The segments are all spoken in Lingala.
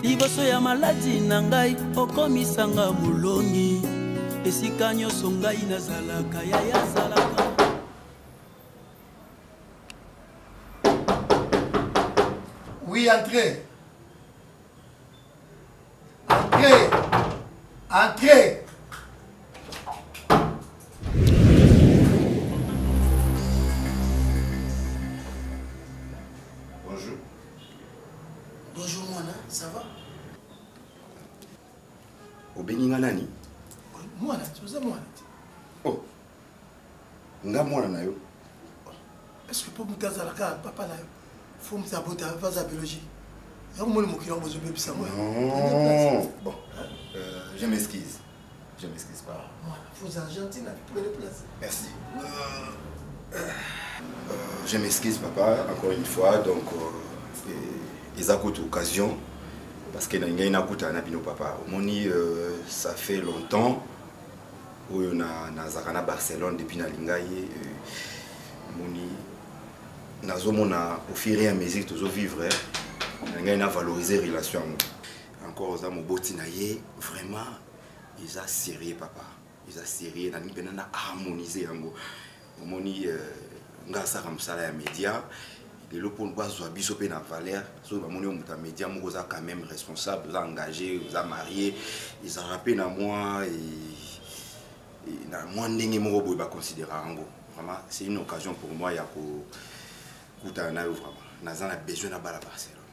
liboso ya maladi na ngai okomisanga molongi esika nyonso ngai nazalaka yaya azalaka oui entrez entrez entrez Bonjour Mwana, ça va Obengi nga nani Mwana, oza mwana te Oh Nga mwana na yo Est-ce que mpo moto azalaka papa na yo fo moto abota baza biologie yango moni mokili yango bozobebisa ngo bon euh, je m'excuse Je m'excuse pas. Voilà, vos Argentines avec tous les places. Merci. Euh, euh, je m'excuse papa, encore une fois, donc euh, ils accoute occasion parce que ngai nakuta na bino papa. Omoni euh, ça fait longtemps oyo na nazaka na Barcelone depuis na lingai euh, moni nazomona au fur et à mesure tozo vivre hein, ngai na valoriser relation yango. encore oza moboti na ye vraiment eza sérieux papa eza sérieux nalingi mpena na harmonise yango omoni euh, nga asaka mosala ya média lelo mpo bazwa biso mpe na valeur soki bamoni yo moto ya média moko oza quand même responsable oza engagé oza marie ezalaka mpe na mwa na mwa ndenge moko boye baconsidera yango vraiment c'est une occasion pour moi ya kokutana na yo vraiment naza na besoin na bala barcelone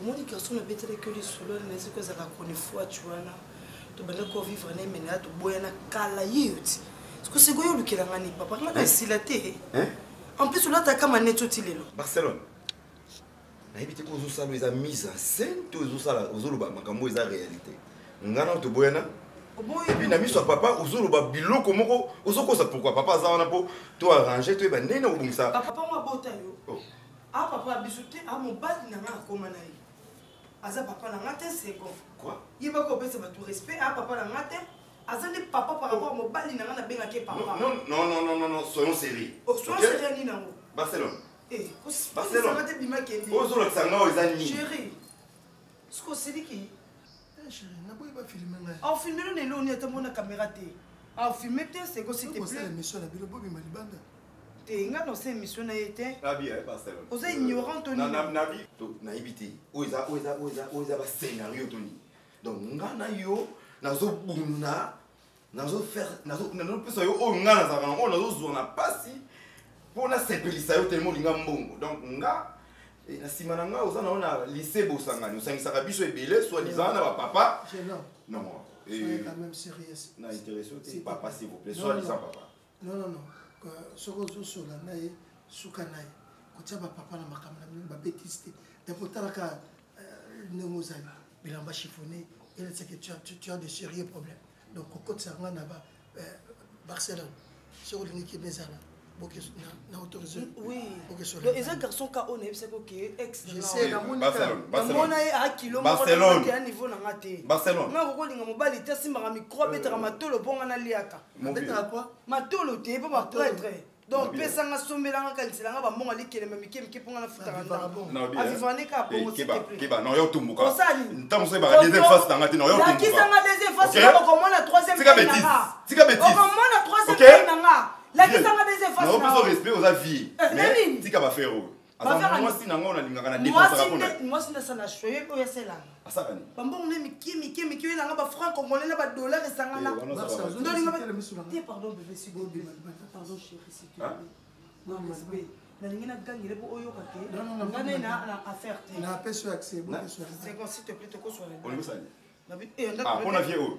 omoni garçon nabetelaki yo lisolo na eziki ozalaka chronifuati wana tobanda ko vivre na emene ya toboyana kala ye yo ti siko sikoyo olukela nga ni papa nga na esila te en plus olataka maneti oti lelo barcelone nayebi te ko ozosala eza mise en scène to ozosala ozoloba makambo eza réalité nga na toboyana epuis na miso ya papa ozoloba biloko moko ozokosa pourkui papa aza wana mpo to arrange toyeba ndenge na kobongisa papa ngo abota yo oh. Ah papa biso te ah mobali na nga akoma na ye aza papa na nga te second yeba kopesa bato respect ah papa na nga te aza nde papa par rapport mobali na nga nabengaki ye papa non non non non non soyons sérieux oh, soyons sérieux nini yango barcelone eh, barcelone te bima kende ozolakisa nga oyo eza nini chéri soki osiliki Eh, chérie, naboyi ba filmer ngai. Au filmer ne loni ata mona caméra te. Au filmer te c'est que s'il te plaît. Vous allez mission na bino bobi malibanda. Te nga no se mission na yete. La vie est pas celle. Vous êtes ignorant Tony. Na na vie. To na ibiti. Oza oza oza oza ba scénario Tony. Donc nga na yo nazo bunda nazopesa yo oyo ngai nazalaka yango nazozwa na mpasi mpo nasepelisa yo telema olinga mbongo donc nga eh, na nsima na ngai oza na yo na lise bosangani osangisaka biso ebele swadizana na bapapa non eh, na interesse te papa s'il vous plaît swadizan papa non non non soki ozosola na ye suka na ye kotia bapapa na makambo na bino babetise te donc otalaka euh, ndenge ozali bilamba chiffonne eleseke tu as de sérieux problème donc kokotisa nga na ba euh, barcelone soki olingi kima ezala na autorisé eza garçon ka oyo nayebisaki oke exnamona ye a kilo mokoya niveau na nga te nga kokolinga mobali te asimbaka micro abetaka matolo mpo nga naliaka abetaka kua matolo te mpo bapretre donc pesanga sombelanga kaniselanga bambongo alikelemba mike mike mpo nga nafutaka ndaavivrane kaka bongo lakisanga deuxième face okomona troisième okomona troisième nanga lakisanga deuxième face oza vie tika bafere oyo mwasi na ngai nalingaka namwasi nasala shoye oyo aselanga bambongo ne mike mike mike oyo elanga bafranc congolais na badollar esangana eh, pardon bebe sibobima pardon chéri situe nalingi nagangele mpo oyoka te nga nde na affaire te napesi yo accès bokesoaolingisani mpona vie oyo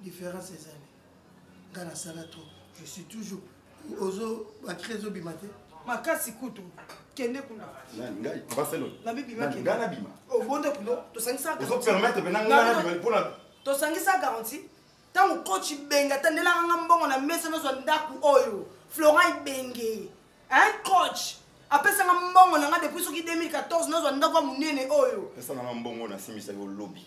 différence ezali nga nasala trop je suis toujours ozo bacre ezobima te makasi kutu kende kuna ngai barcelone nabibima ngai nabima obonde oh, kuno tosangisaka ozo permettre mpe nanga nabima mpona tosangisa garanti ntango coach ibenge atandelaka nga mbongo na mesa nazwa ndako oyo florent ibenge un coach apesanga mbongo na nga depuis soki 2014 nazwa ndako ya monene oyo pesanga nga mbongo nasimbisaki olobi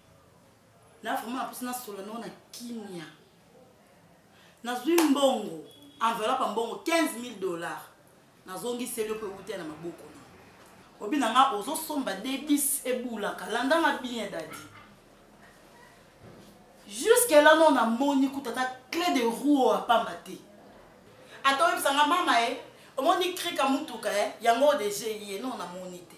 na vraiment naposi nasolola nao na kimia nazwi mbongo enveloppe ya mbongo 15 000 dollars nazongiseli yo mpo ewutela na maboko na obi na nga ozosomba debis ebulaka landa nga bien dadi juske la no namoni kuta ata cle de roue oyo apamba te ata oyebisa nga mama ye eh, omoni krika motuka ye eh, yango oyo deje ye no namoni te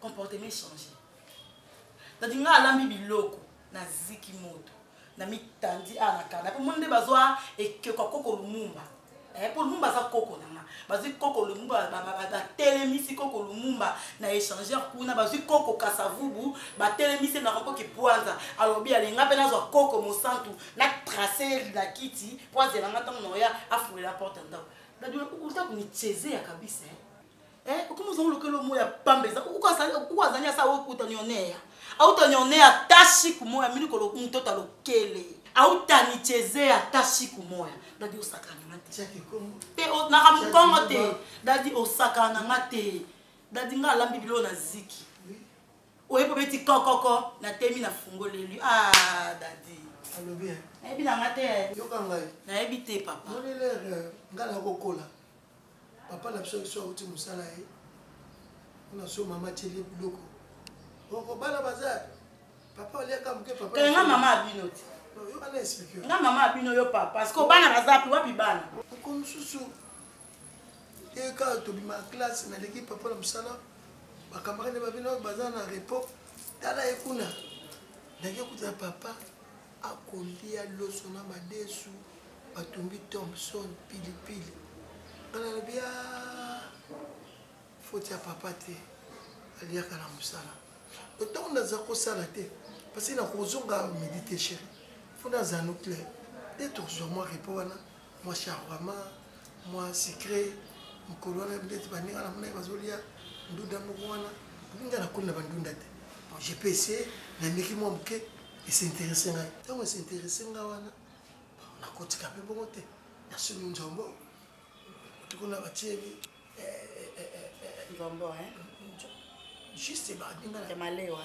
comportement echange dadi ngai alambi biloko naziki moto na mitandi awa na kanda mpo moni nde bazwa ekeko ya koko lumumba eh, mpo lumumba aza koko na nga bazwi koko lumumba batelemisi koko lumumba na échangeur kuna bazwi koko kasavubu batelemisi na koko kipwanza alobi alinga mpe nazwa koko mosantu na trace na kiti mpo azela nga ntango na oya afulela porte ndako dadula uta kunichezea kabisa eh. eh, okomi ozango lokela omo ya pamba eza uko azali asa okotanionea autanionea ata shiku moya mini moto ota lokele autanichezea ata shiku moya dadi osakana nga te te naka mokongo te dadi osakana nga te dadi nga alambi bilo na ziki oyebi obeti kokoko na temi na fungoleli ah dadi alobi nayebi na nga te nayebi te papa nga nakokola papa na biso yesu awuti mosala ye mpona so mama atyeli ye biloko oko bana baza papa oliaka moke papa kala nga mama abino te yo ana explike nga mama abino yo papa parce que bana baza pi wapi bana oko mosusu eka tobima classe naleki papa na mosala bakamarade babino baza na repos tala ye kuna ndenge okutana papa akolia loso na madesu batumbi Thompson pilipili nga nalobi a ah, foti ya papa te aliaka na mosala to ntango naza kosala te parce nakozonga midi te chéri mpo naza nucléaire nde tozwa mwa repo wana mwa charwama mwa secret mokolo wana ndeti baninga na monaki bazolia ndunda moko wana nga nakomi na bandunda te bon je peux essayer nameki mwa moke esinteresse ngai ntango esinteresse ngai wana nakotika mpe bongo te nasumi nzombo tukuna batieli nzombo juste baninga ya malewa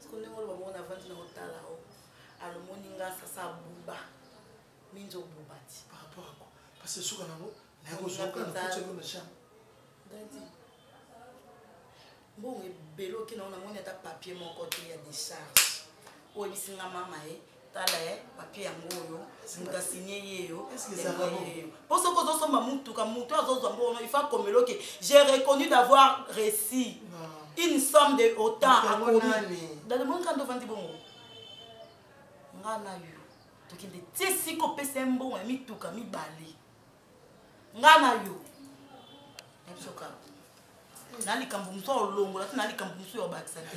siko ndenge oloba bongo navandi na otala o alomoni nga sasa abuba minzo obuba ti par rapport ako parce suka nango nakozwaka na kotya yo na chambre dadi mbongo ebele oke nango namoni ata papier moko te ya décharge oyebisi nga mama ye eh? tala eh, papier yango oyo moto asigne yeyo mpo soki ozosomba motuka motu azozwa mbo ono ifa komelo ke j'ai reconnu d'avoir réussi une somme de autant akomi dademonka nde ovandi bongo nga na yo tokende ti esika opesa ye mbongo ya mituka mibale nga na yo nabisoka na likambo mosusu olongola ti na likambo mosusu ya obakisa te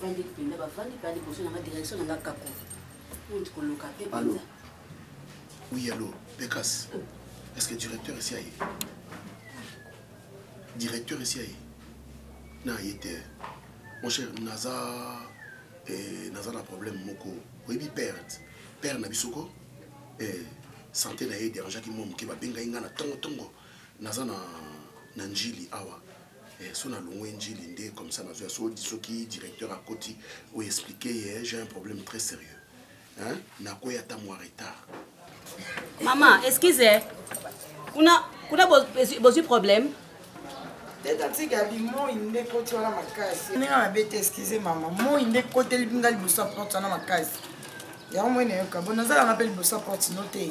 Vandi Pinda, ba Vandi Pinda, liboso na nga direction na nga kako. Mutu koloka pe Pinda. Oui, allô, Pekas. Est-ce que directeur ici aye? Directeur ici aye? Na aye te. Mon cher, naza eh, naza na problème moko. Oyebi perte. Père na biso ko eh, santé na ye dérangeaki mwa moke babengaki ngai na ntongo ntongo naza na na njili awa Eh, so nalongwe njili nde comme ça nazoya soki soki directeur akoti oyo explike ye j'ai un problème très sérieux hein? nakwei ata mwa retard mama excuse kuna kuna bozwi problème tetatika limoi nde ekoti wana makasi ndenge mabe te excuse mama moi nde ekoteli nga liboso ya porte wana makasi yango moi nayoka bo nazalanga mpe liboso ya porte no te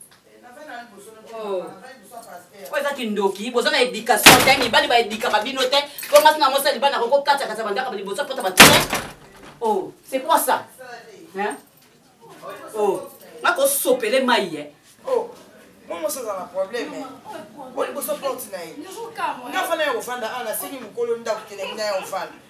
Oh. oyo eza kindoki boza na éducation te mibali baedikaka bino te po ngasi na mosali bana koko kati akati bandaka liboso pota bato te o oh, c'est quoi ça o oh. nakosopele mai ye momosi aza na problème o liboso porte na ye nga fana ya kofanda ana asengi mokolo ndako kelengina ya kofanda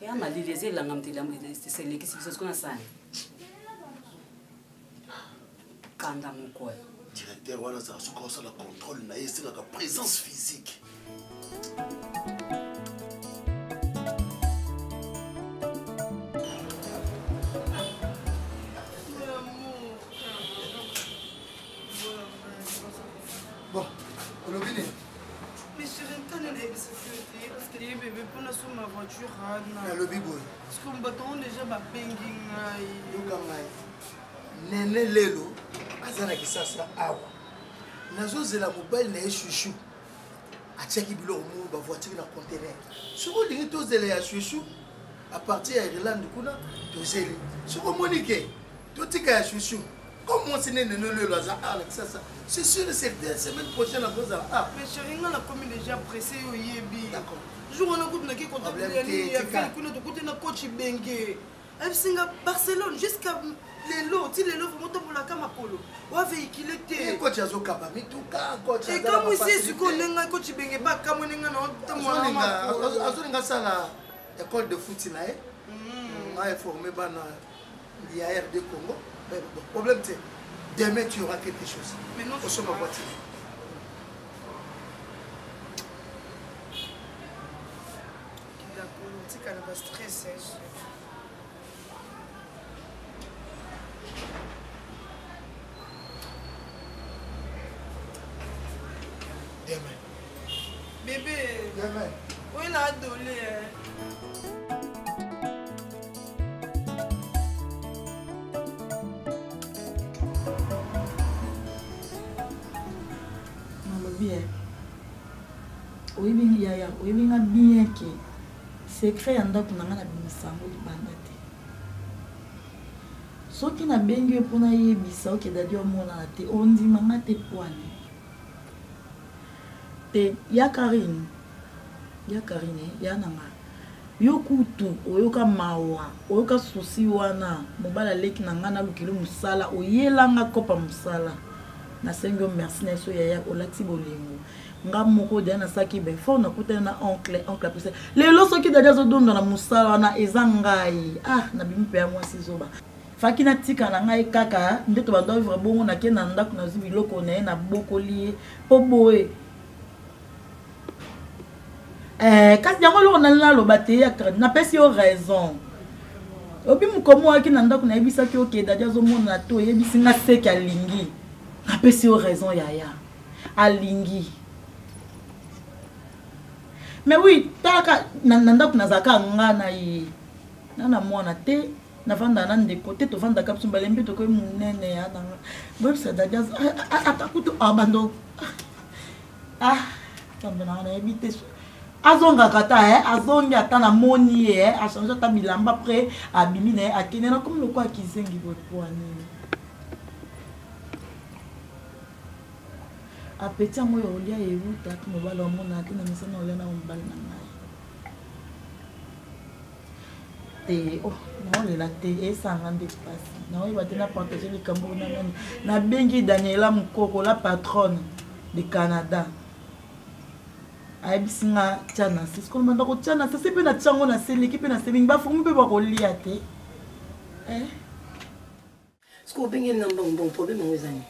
ya malili eza elanga moto eselekisi biso siko na sani kanda moko directeur wana azala soki osala contrôle na ye esengaka présence physique Bon, olobi nini Mais chérie, quand elle est sécurité, parce que les bébés pour la somme ma voiture, Anna. Elle le bibo. Parce qu'on bâton déjà ma penging. Yoka mai. Nene lelo, azana ki sasa awa. Nazo zela mobile na chouchou. Atiaki biloko mo ba voiture na conteneur. Soko lingi to zela ya chouchou à partir ya Irlande kuna tozeli. Soko monike totika ya chouchou. comme mwasi nene nolelo aza a na kisasa c'est sûr et certain semaine prochaine akozala a mais chéri nga nakomi déjà pressé yo oyebi jour wana kutu nake kontakteyani ya fele kuna tokuti na coach benge ayebisi nga barcelone jusqu'à lelo ti lelo vraimen otambolaka makolo waveikile tecoach azokaba mituka ekamwisi esiko ndenga coach benge bakamwe ndenga na otambolaazolinga asala école de foot na ye mm. aeforme bana ya rd congo eh, problème te demain tu aura quelque chose osomba voiture tika na bastress demain Bébé. Demain. Oui, la adolé. bien oyebi ngi yaya oyebi nga bien ke secret ya ndako na nga nabimisa yango libanda te soki nabengi yo mpo nayebisa oke dadi omonana te ondima nga te pwane te ya karine ya karine ya nanga yo kutu oyoka mawa oyoka susi wana mobali aleki na ngai nalukeli mosala oyelanga kopa mosala nasengi yo merci na yeso yaya olati bolingo nga moko dia nasalaki befort nakutani na oncle oncle apesa lelo soki dadi azodonda na mosala wana eza ngai ah nabimi mpe ya mwasi zoba faki natika na ngai kaka nde tobanda ovivre bongo nake na ndako nazwi biloko na ye nabokoli ye mpo boye eh, kasi yango eloko nali naloba teyatre napesi yo raison obi mokomi oyaki na ndako nayebisaki oke dadi azomona to oyebisi nga seke alingi napesi yo raison yaya alingi mais oui talaka na ndako nazalaka nga na ye na na mwana te navanda na ndeko te tovandaka biso mbale mpe tokoki monene ya nanga boyebisa dadias ata kutu abando ah kambe nanga nayebi te azongaka ata eh, azongi ata namoni ye eh, achange ata bilamba pre abimi na ye akende nakomi lokola kizengi boepwanini apeti yango ya olia ewuta mobali omona te na misana olia na mobali na ngai te oh, naolela te esanga nde mpasi naoyeba te na partage likambo na nani nabengi daniela mokoko la patronne de canada ayebisi nga tya na se sikoyo banda kotya na se se mpe natyango na se leki mpe na se mingi bafomi mpe bakolia te eh? Siko obenge na mbongo mbongo problème yango eza nini?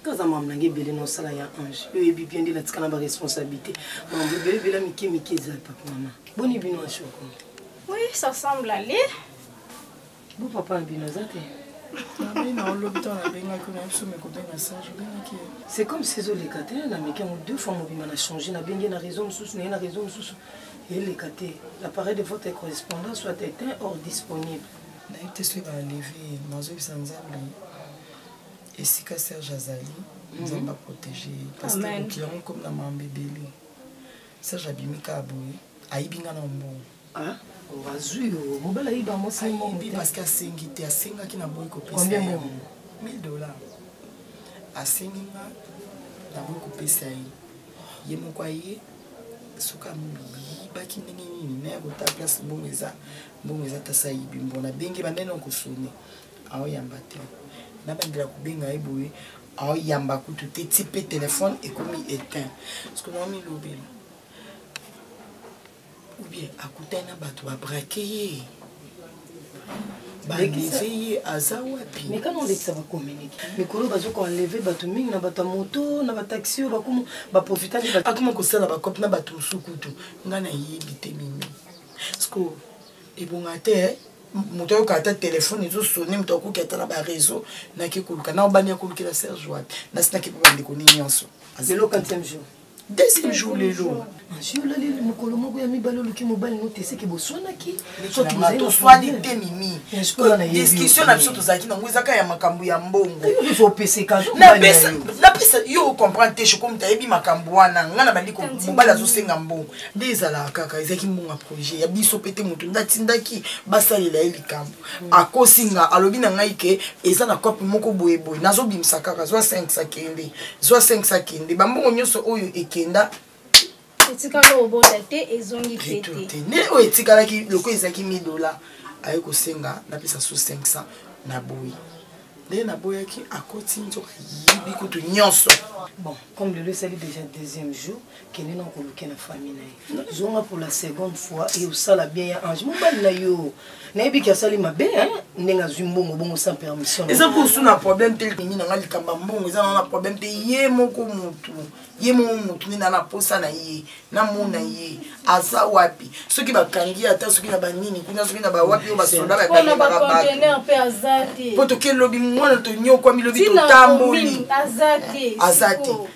Kaza mamu na ngai ebele na osala ya ange yo oyebi bien nde natika na baresponsabilité mamu ebele ebele mike mike eza papa mama boni bino ya shoko oui ça semble aller bo papa na bino aza te c'est comme ces oleka te na meke yango deux fois mobimba na change nabenge na raison mosusu naye na raison mosusu eleka te l'appareil de votre correspondance soit éteint or disponible nayebi te soki baaleve ye nazobisa nzambe esika serge azali mhm. nzambe aprotege ye parceke yango ekomi na mambo ebele serge abimi kaka boye ayibi nga na mbongo ah, azwi mobala ayiba mwasiayibi parceke asengi te asengaki na boyi kopesa 1000 dollar asengi nga na boyi kopesa ye ye moko aye soki amibaki ndenge nini naye kota place mbongo eza mbongo eza tasa ayibi mbona benge banene okosone aoyamba te nabandela kobenga ye boye aoyamba kutu te ti mpe telefone ekomi eteint parceke naomilobela oubien akutani na bato babrake ye baleve ye aza wapi mekana olekisa bakominike mikolo bazoka enleve bato mingi na bato ya moto na bataxi oyo bakoma baprofitaki akoma kosala bakope na bato mosusu kutu ngai nayebi te mimi sikoyo ebonga te eh? moto ayoka ata telefone ezosone moto akoki ata na bareseau nake koluka na obandi akolukela serge wapi nasi nake mpe bandeko nini nyonso lelo quantième jour deuxième jour lelo azwi olaleli mokolo moko ya mibale oluki mobali no teseke boswanaki toswani te mimi discussion na biso tozalaki nango ezaka ya makambo ya mbongo napesa yo ocomprendre te shokomta ayebi makambo wana ngai na bandi mobali azosenga mbongo nde ezalaka kaka ezalaki mbongo ya projet ya biso mpe te moto nde atindaki basalela ye likambo mm. akosi nga alobi na ngai ke eza na cope moko boyeboye nazobimisa kaka zwa 5 akende zwa 5 akende bambongo nyonso oyo ekenda etikala obonda te ezongi te te nde oyo etikalaki loko ezalaki 1000 dollars aye kosenga napesa su 500 na boyi nde naboyaki akoti nzoka yibi kutu nyonso bon comme lelo esali déjà deuxième jour kende na koluke na famille na ye zonga pour la seconde fois e osala bien ya ange mobali na yo nayebi ki asali mabe ndenge azwi mbongo bongo sans permission eza kusu na problème te lingi nanga likambo ya mbongo eza nana problème te ye moko motu ye moko motu nde nana posa na ye namona ye aza wapi soki bakangi ye ata soki na banini kuna soki na bawapi oyo basoda bakangelaka bato po toke lobi mwana tonyokwami lobi totamboli aza te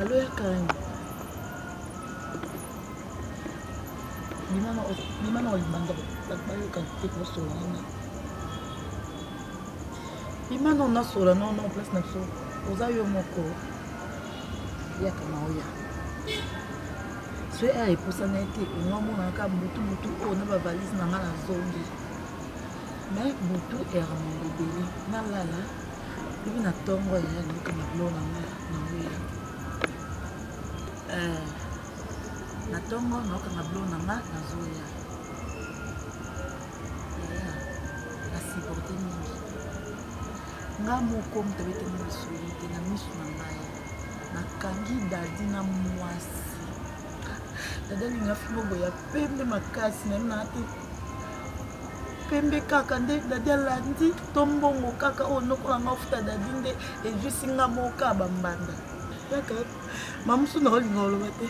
Allô ya Karine. Limama limama olibanda bayoka te kosola wana. Limana onasola no no place na biso oza yo moko yaka na oya. Soki aya epusana ete onga omonaka butu butu oyo na bavalise na ngai na zongi. mais butu errement bobele nalala lobi na ntongo ya nayoka na bilo na nga na weya eh, na ntongo nayoka na bilo na nga nazoya yaya nasiporte mingi nga moko moto abeteli masolo te na miso na ngai nakangi dadi na mwasi dadi alinga fimo boya pembe makasi nayebi naa te pembe kaka nde dadi alandi to mbongo kaka oyo nokola nga ofuta dadi nde ejuisi nga moka bambanda yaka mamusu na olinga oloba te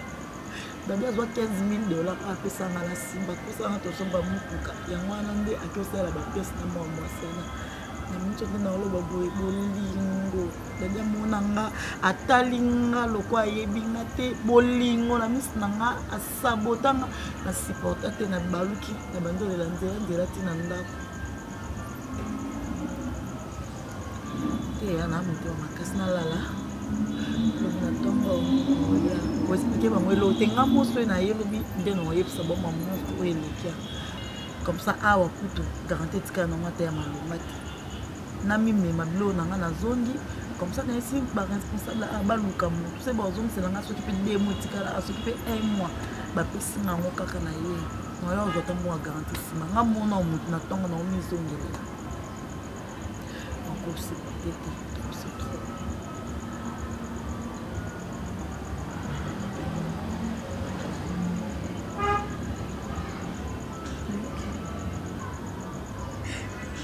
dadi azwa 15 mille dollar apesanga na nsima tosanga tozomba motuka yango wana nde akiosalela bapese na mwa mwasi wana na miso nde naoloba boye bolingo dadi amona nga atali nga lokola ayebi nga te bolingo na miso na nga sabotanga na supporta te na baluki na bandolela nzela nzela ti na ndako teya na moto ya makasi nalala lobi na ntongo oya koexplike bango elo te nga moso na ye lobi nde na oyebisa boma moto oyo elekia comme ça awa kutu garanti etikala na ngo ata ya malonga te namimema biloko na ngai nazongi comme ça nayesi baresponsable a baluka motu se bazongisela ngai soki mpe de mois etikala soki mpe un mois bapesi nga yango kaka na ye nayo ozwa ta mwa garanti nsima nga mona motu na ntongo na omizongelela nakosepate te kose trop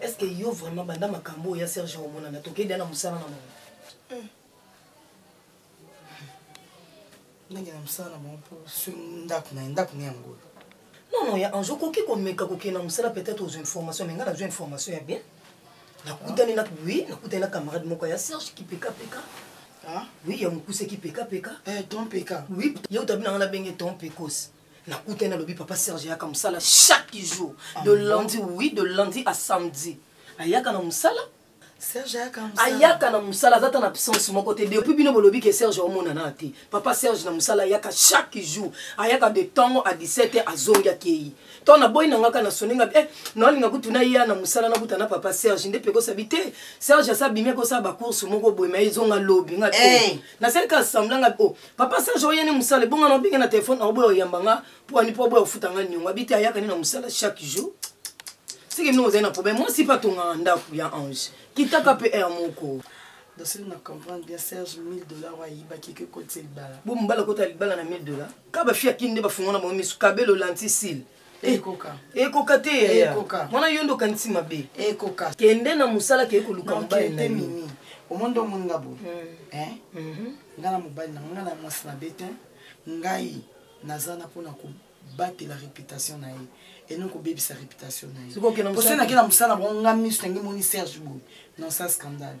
est ce que yo vraiment banda makambo oyo ya serge omonana tokei dia na mosala na bango hmm. ndenge na mosala na bango mpo soki ndako na ye ndako na yango oyo non non ya ange okoki komeka kokende na mosala peut-être ozwa information me ngai nazwa information ya bien nakutani na oui nakutani na camarade moko ya serge kipekapeka oui ya mokuse kipekapeka eh, ton peka oui ye otabi na ngai nabenge ton pekos nakutani nalobi papa serge ayaka mosala chaque jour ah de lundi oui de lundi à samedi ayaka na mosala serge ayaka mosala ayaka na mosala aza ata na absence moko te depuis bino bolobi ke serge omonana te papa serge na mosala ayaka chaque jour ayaka de ntongo a 17 heure azongi akei to naboyi na ngaka na soni nga eh, naolinga kutu na ye na mosala nakuta na papa serge nde mpe kosabi te serge asa abimi akosala bacourse moko boye ma ezonga lobi nga te eh. nasali kaka sembla nga o oh, papa serge oya ne mosala ebonga na obenge na telefone na oboya oyamba nga mpo ani mpo aboya ofuta nga niongo abi te ayaka ne na mosala chaque jour seke bino ozali na problème mwasi mpe atongaka ndako ya ange kitaka mpe heure moko dosili na comprendre bien serge 1000 dollar ayibaki ke kotisa libala bo mobala kota libala na 1000 dollar ka bafi akini nde bafungana bango misu kabelo lantisile Eh, ekoka ekoka te yaya mwana yo nde okanisi mabe ekoka kende na mosala keye koluka mobali na mimi omoni nde omoni nga boye mm. eh? mhm. nga na mobali na nga na mwasi na be te ngai naza na mpona kobatela réputation na ye eno kobebisa réputation na ye posenaki na mosala bango nga miso nange moni serge boye non sa scandale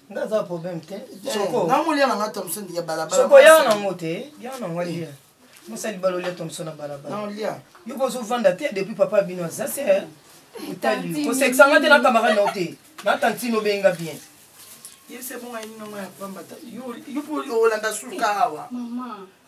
nga aza problème te eh, soko nga molia na nga thomson ya balabala soko ya na ngo te ya na ngo lia mosali balo lia thomson na balabala na lia yo bozo vanda te depuis papa bino aza se eh. otali ko sexa nga te na camarade na te na tantine obenga bien yebisa bonga yini na ngo ya pamba yo yo olanda suka awa maman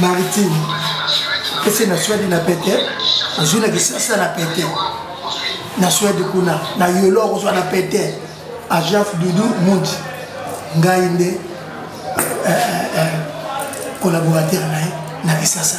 maritime ese na swede na pete ozwi na kisasa na pete na swede kuna na yolo okozwa na pete ajaf dudu mundi ngai nde eh, eh, eh, collaborateur na ye na kisasa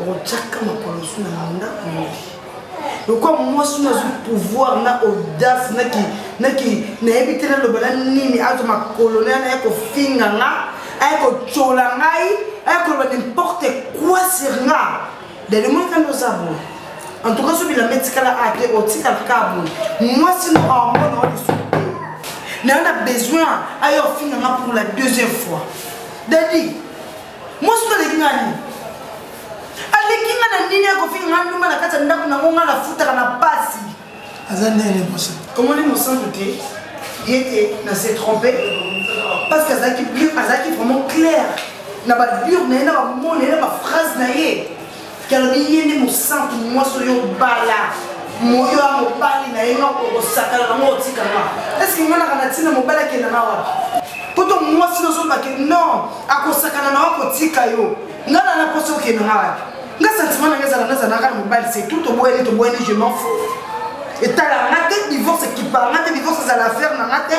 okotyaka makolo su na munda moyi lokwa mwasi oyo azwi pouvoir na audace nayebi te naloba na nini azwa makolo na yana ya kofinga nga aya kotyola ngai aya koloba nimporte quoi sur nga dali moi kanda oza boye en tout cas so bilamba etikala a te otikala ka boye mwasi no hormone oyo lisusu te nayo na besoin aya ofinga nga pour la deuxième fois dadi mwasi oyo aleki ngai nini aleki ngai na nini akofinga ngai ndumba na kati ya ndako nango ngai nafutaka na pasi aza ndenge mosa omoni mosantu te ye te na se trompe parce que azalaki azalaki vraiment claire na babure na ye na bamona ye na baphrase na ye Ke alobi ye nde mosantu mwasi oyo obala moyo ya mobali na ye noko okosakana nango otikanga eske ngai naka na ntina mobali akenda na wapi poto mwasi nozobake non akosakana na wako otika yo ngai na naposi okenda na wapi nga sentiment na ngai ezala nazalaka na mobali se tout toboyani toboyani je m'en fou etala nga te divorce ekipaka nga te divorce ezala affaire na nga te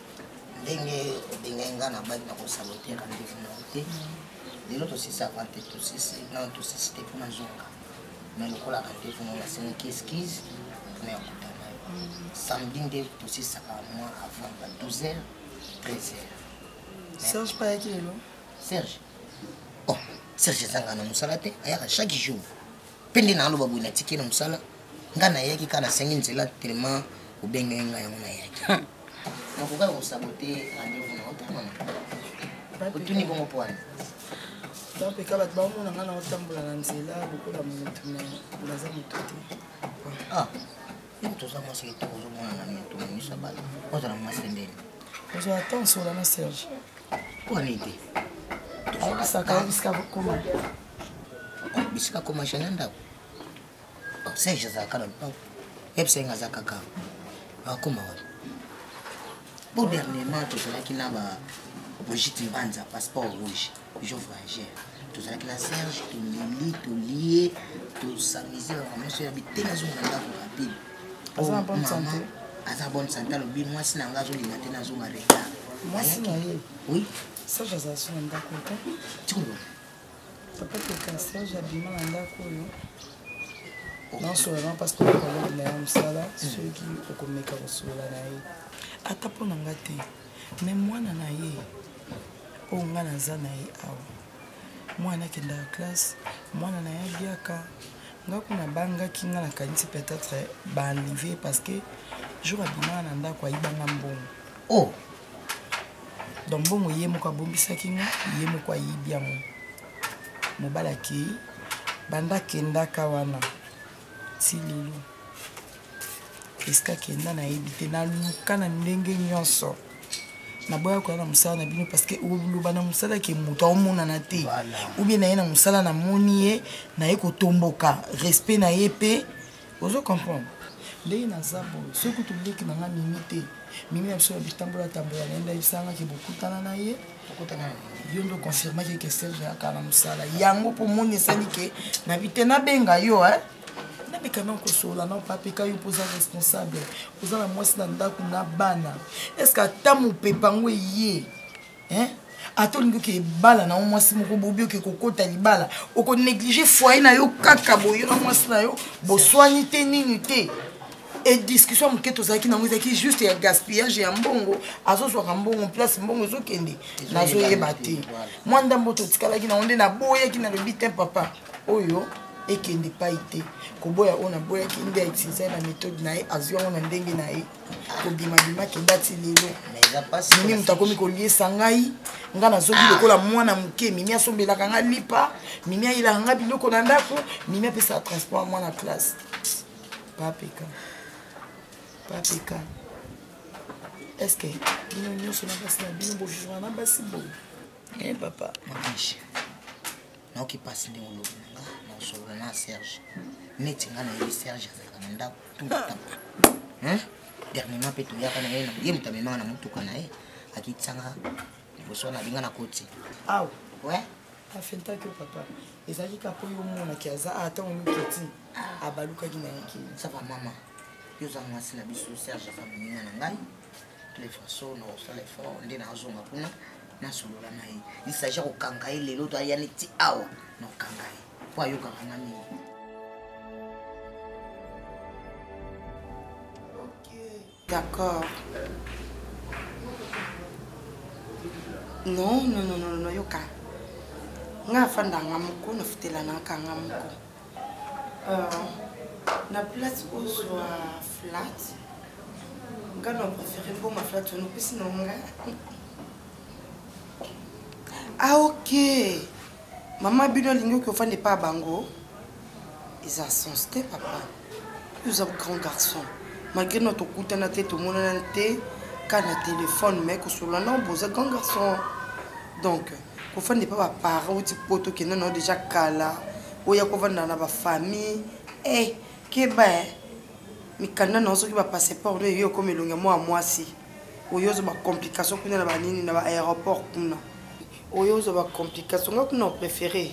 ndenge obengai ngai na baki na kosabote rendez-vous na yo te lelo tosisi avant te tosisi non tosisi te mpo nazonga mais lokola rendez-vous na nasenaki esquise mpona ya kutana yo samedi nde tosisaka mwa avant ba 12 heures 13 heures serge payaki lelo serge oh serge ezanga na mosala te ayaka chaque jour mpe nde naaloba boye natiki na mosala ngai nayaki kaka nasengi nzela tellement obengaki ngai yango nayaki nakokaka kosabote rendez-vous na otanga otuni bongo pwana bapeka bato baomona ngai naotambola na nzela lokola moto me naza moto te ah, toza mwasi kitoko ozomona na moto miso bala ozala mwasi ndeni ozala temps sola na serge pwana ete tozokisaka bisika koma bisika koma jana ndako obsège azalaka na lopango ebsenge aza kaka akoma wapi po dernièrement tozalaki na ba brigitte mbanza passeport rouge pigeon frangère tozalaki na serge toleli tolie tosamise baka nyonso ya bitenge azonga na ndako rapide mama aza bonne sante alobi mwasi na ngai azolinga te nazonga retard mwasi na ye oui serge azala so na ndako te tikoloba papa teka serge abima na ndako oyo naosolola na parce que okolongi na ya mosala hmm. soki okomeka kosolola na ye ata mpo na nga te me mwana na ye oyo nga naza na ye awa mwana akendaka classe mwana na ye abiaka nga kuna bangaki nga nakanisi peut-être baenlive parce que jour abimaka na ndako ayibanga mbongo oh. donc mbongo ye moko abombisaki nga ye moko ayibi yango mobali akei banda akendaka wana ti lelo esika akenda nayebi te naluka na ndenge nyonso naboya koya na mosala na bino parce que oloba na mosala ke moto aomonana te oubien naye na mosala namoni ye naye kotomboka respect na ye mpe ozo comprendre ndenge naza boye soki kutu leki na nga mimi te mimi na biso bitambola tambola na ye ndayebisangaki bokutana na ye yo nde oconfirmaki ke serge yaka na mosala yango mpo moni esali ke na bite nabenga yo e nabika na kosola na opapeka yo mpo oza responsable oza na mwasi na ndako na bana estce ata mopepa yango eye hein ata olingi oke libala na yo mwasi moko bobi oke kokota libala okonéglige foye na yo kaka boyo na mwasi na yo boswani te nini te e discussion ya moke tozalaki nango ezalaki juste ya gaspillage ya mbongo azozwaka mbongo place mbongo ezokende nazoyeba te mwa ndambo totikalaki nango nde naboyaki nalobi te papa oyo ekende pai te koboya oyo naboyaki nde autilize na méthode na ye azwi yango na ndenge na ye kobimabima kenda ti lelo mimi moto akomi koliesa ngai ngai nazoki ah. lokola mwana moke mimi asombelaka ngai lipa mimi ayelaka ngai biloko na ndako mimi apesaka transport mwana classe papeka papeka est ce que bino nyonso na basi na bino bovivra na basi boye e papa mamiche naoki mpasi ndenge olobi na nga naosolola na serge neti ngai nayebi serge azalaka na ndako dernièrement mpe toyaka na ye ye moto amemaka na motuka na ye akitisanga liboso wana alinga na koti awa we afentaki yo papa ezalaki kaka oyo omonaki aza atango miketi ah. abalukaki na ye kini sapa mama yo oza mwasi na biso serge aza moninga na ngai tule façon na osala effort nde nazonga kuna nasolola na ye lisage ya kokanga ye lelo to aya neti awa na kokanga ye mpo ayokaka nga mingi d'accord non non non non non yoka nga afandanga moko nafutelanaka nga moko euh, na place ozwa flat nga na préféré mbongo flat ono mpesi na nga ah ok Maman bino alingi oki ofanda epa bango eza sens te papa oza grand garçon malgré no tokutana te tomonana te ka na telefone mai kosolola nao boza grand garçon donc kofanda epa baparent outi poto okenda nao deja kala oya kovanda na bafamille e eh, keba eh. mikanda nao soki bapasseport no eyo okoma elongi ya mwa mwasi oyo ozo bacomplication kuna na banini na baaéroport kuna oyo ozwa ba complication nga kuna opréféré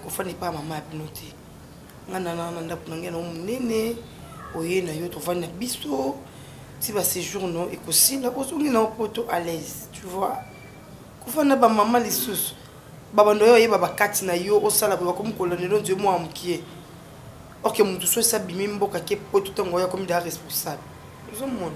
kofanda epai ya mama ya bino te nga nana na ndako na ngai nango monene oye na yo tovandi na biso ti baséjour no ekosila ozongi na yo poto à l'aise tu vois kofanda bamama lisusu babando oyo oyeba bakati na yo osala boye bakomi kolonelo nzoi mwa mokie orke motu so esabimi mboka ke poto ntango oyo akomi daa responsable ozomona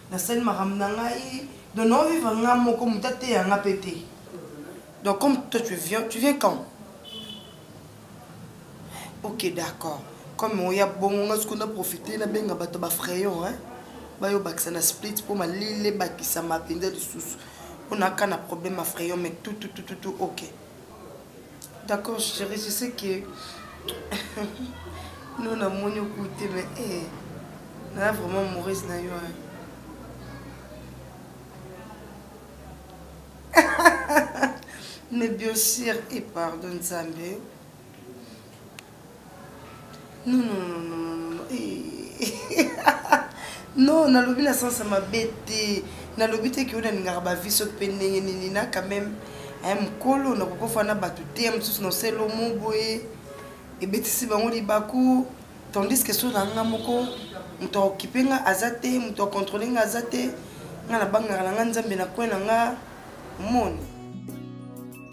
nasali makambo na ngai donc nao vivre nga moko moto ateya nga mpe te donc comme toi tu viens tu viens quand ok d'accord comme oya bongo nga soki naprofite nabenga bato bafrayon hein? bayo bakisa na split mpo malili ebakisama mpenza lisusu mpo naka na problème ya frayon mais tututututu ok D'accord chérie, je sais que nous na moni okute mais eh na vraiment amoureuse na yo hein. mais bien sûr et pardon Nzambe. non non non non non non eh. non nalobi na sense ya mabe te nalobi te ke oyo nalingaka bavi soki mpe ndenge nini na quand même eh, mokolo nakokofa na bato te ya mosusu na selo mo boye ebetisi bango libaku tandis ke soki nanga moko moto aokipe nga aza te moto akontrole nga aza te nga nabangaka na nga nzambe na kwe na nga omoni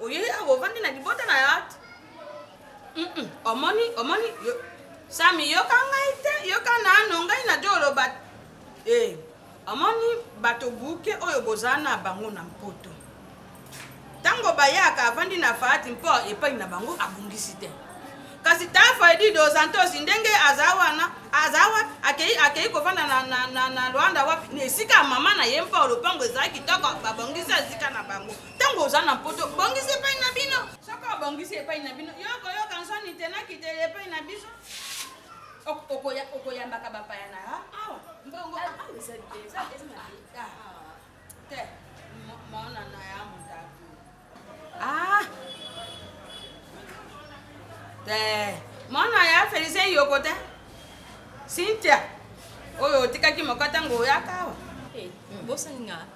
oyei awa ovandi na libota na yo ata omoni omoni sami yoka ngai te yoka nano ngai najo oloba e eh, omoni bato buke oyo boza na bango na mpoto ntango bayaka avandi na faati mpo epai na bango abungisi te kasi tafa edi dozantosi ndenge aza wana aza wapi akei akei kovanda na, na, na, na lwanda wapi na esika ya mama na ye mpo lopango ezalaki kitoko babongisi esika na bango ntango oza na poto bongisa epai na bino soki obongisi epai na bino yokoyoka nsoni te nakiteli epai na biso okoyambaka bapaya na yo awa mbongo ah, ah, ah, te mona na ya motatu ah te mona ya felicien yoko te cynthia oyo otikaki moka ntango oyaka awa eh, bosaninga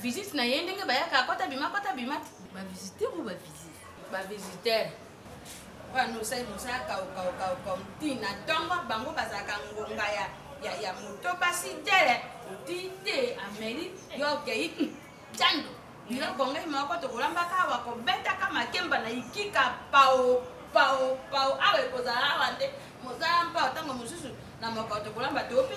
visite na ye ndenge bayaka akota bima akota bima ba visiteur ou ba visite ba visiteur wana osali mosala kaukaukauka ntina ntongo bango bazalaka ngonga ya ya ya moto basi tele oti te ameli yo okei hmm, cando biloko ngai moko tokolambaka awa kobetaka makemba na ikika pao pao pao awa ekozala awa nde mosala mpao ntango mosusu na mokao tokolamba to mpe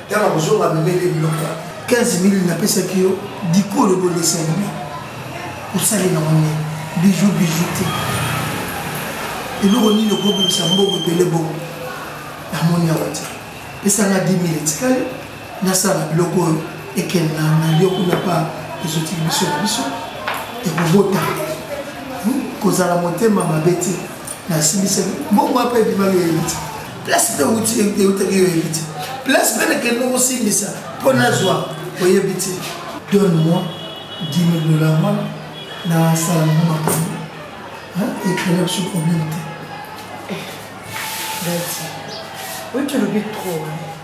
yanga kozonga amemeli biloko 15 mil napesaki yo dikolo bolesenime osali na mone biju biju te eloko nini okobimisa mbongo ebele bongo namoni awa te pesanga 10 mil etikali nasala biloko oyo ekende na lio kuna pa ezotiki biso na biso ekobota hmm? kozala motema mabe te nasilisaki mbongo wapi ebimaki yo yebi te place mpe euti eutaki yo yebi te place mpe nakende kosimbisa mpo nazwa oyebi te donne moi 10 000 dollars wana nasala nango makambo ekrela biso problème te dati oyo tolobi trop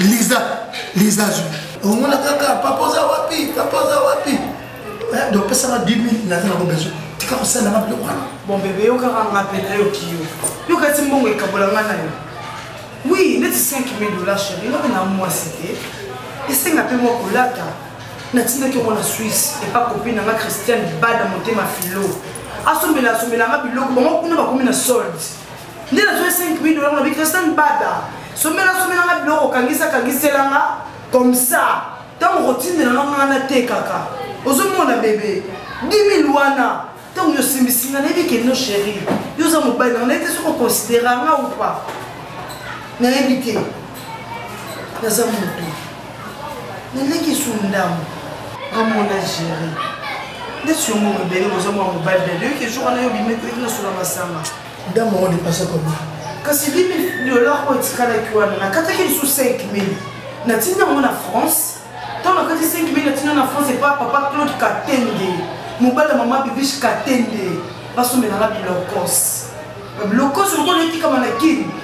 liza liza azwi omona kaka papa oza wapi papa oza wapi eh, donc pesanga 10 000 naza nango besoin tika kosala nga biloko wana bon bebe yokaka nga mpena yoki yo yoka ti mbongo ekabola nga na yo wi neti 5 000 dollars chéri ngai na mwasi te esenga mpe mwa kolata natindaki yango na swisse epa kopi na nga christiane bada motema filo asombela asombela nga biloko bango kuna bakomi na solde nde nazwai 5 mil dola nabi christian bada somela somela nga biloko okangisa kangisela nga comme ça ntango okotindela nga nga natekaka ozomona bebe 10 mil wana ntango yosimbisi nga nayebi ke no chéri yo oza mobali nanga nayebi te soki okonsidera nga ou pas nayebi te naza moto naleki su ndambo amona géri nde siongo mobele boza mwa mobali na yoki jour wana yo bimekaki nasula masanga Dame yango depasa koma. Kasi bibi dollar oyo etikalaki wana nakataki lisusu 5000 natindi yango na France ntango nakati 5000 natindi na France epa papa Claude Katende mobali ya mama Bibiche Katende basombela nga bilokos bilokos lokola etikama na kini